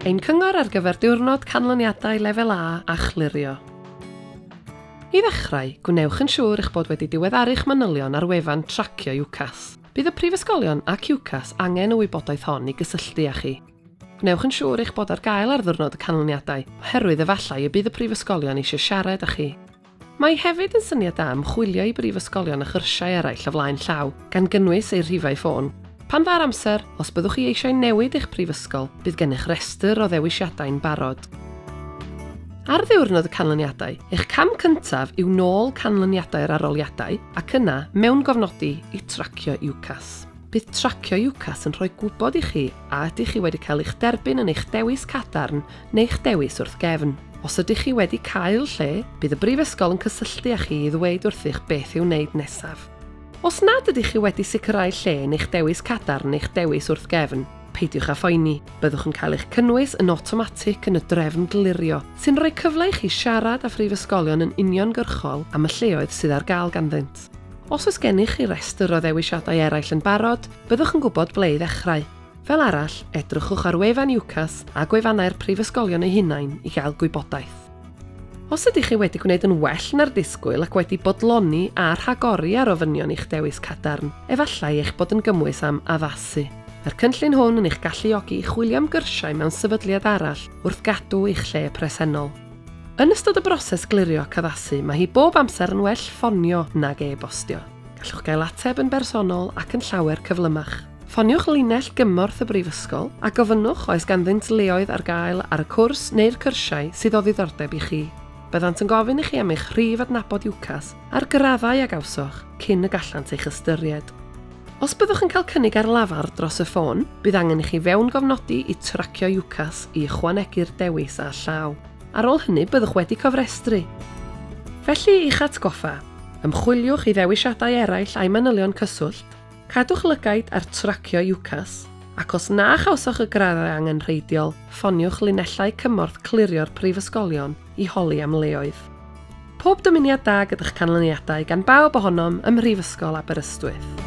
Ein cyngor ar gyfer Diwrnod Canlyniadau Lefel A a Chlirio. I ddechrau, gwnewch yn siŵr eich bod wedi diweddaru'ch manylion ar wefan tracio UCAS. Bydd y prifysgolion ac UCAS angen y wybodaeth hon i gysylltu â chi. Gwnewch yn siŵr eich bod ar gael ar Ddiwrnod y Canlyniadau, oherwydd efallai y bydd y prifysgolion eisiau siarad â chi. Mae hefyd yn syniad da ymchwilio i brifysgolion a chyrsiau eraill o flaen llaw, gan gynnwys eu rhifau ffôn. Pan dda'r amser, os byddwch chi eisiau newid eich prifysgol, bydd gennych restr o ddewisiadau'n barod. Ar ddiwrnod y canlyniadau, eich cam cyntaf yw nôl canlyniadau'r aroliadau ac yna, mewn gofnodi, i tracio UCAS. Bydd tracio UCAS yn rhoi gwybod i chi a ydych chi wedi cael eich derbyn yn eich dewis cadarn neu'ch dewis wrth gefn. Os ydych chi wedi cael lle, bydd y Brifysgol yn cysylltu â chi i ddweud wrthych beth i'w wneud nesaf. Os nad ydych chi wedi sicrhau lle neu'ch dewis cadarn neu'ch dewis wrth gefn, peidiwch â phoeni, byddwch yn cael eich cynnwys yn awtomatig yn y drefn glirio, sy'n rhoi cyfle i chi siarad â phrifysgolion yn uniongyrchol am y lleoedd sydd ar gael ganddynt. Os oes gennych chi restr o ddewisiadau eraill yn barod, byddwch yn gwybod ble i ddechrau. Fel arall, edrychwch ar wefan UCAS a gwefannau'r prifysgolion eu hunain i gael gwybodaeth. Os ydych chi wedi gwneud yn well na'r disgwyl ac wedi bodloni a rhagori ar ofynion i'ch dewis cadarn, efallai eich bod yn gymwys am addasu. Mae'r cynllun hwn yn eich galluogi i chwilio am gyrsiau mewn sefydliad arall wrth gadw eich lle presennol. Yn ystod y broses glirio ac addasu, mae hi bob amser yn well ffonio nag e-bostio. Gallwch gael ateb yn bersonol ac yn llawer cyflymach. Ffoniwch linell gymorth y Brifysgol a gofynnwch oes ganddynt leoedd ar gael ar y cwrs neu'r cyrsiau sydd o ddiddordeb i chi. Byddant yn gofyn i chi am eich rhif adnabod UCAS a'r graddau a gawsoch cyn y gallant eich ystyried. Os byddwch yn cael cynnig ar lafar dros y ffôn, bydd angen i chi fewngofnodi i tracio UCAS i ychwanegu'r dewis â llaw. Ar ôl hynny byddwch wedi cofrestru. Felly, i'ch atgoffa, ymchwiliwch i ddewisiadau eraill a'u manylion cyswllt, Cadwch lygaid ar tracio UCAS, ac os na chawsoch y graddau angenrheidiol, ffoniwch linellau cymorth clirio'r prifysgolion i holi am leoedd. Pob dymuniad da gyda'ch canlyniadau gan bawb ohonom ym Mhrifysgol Aberystwyth.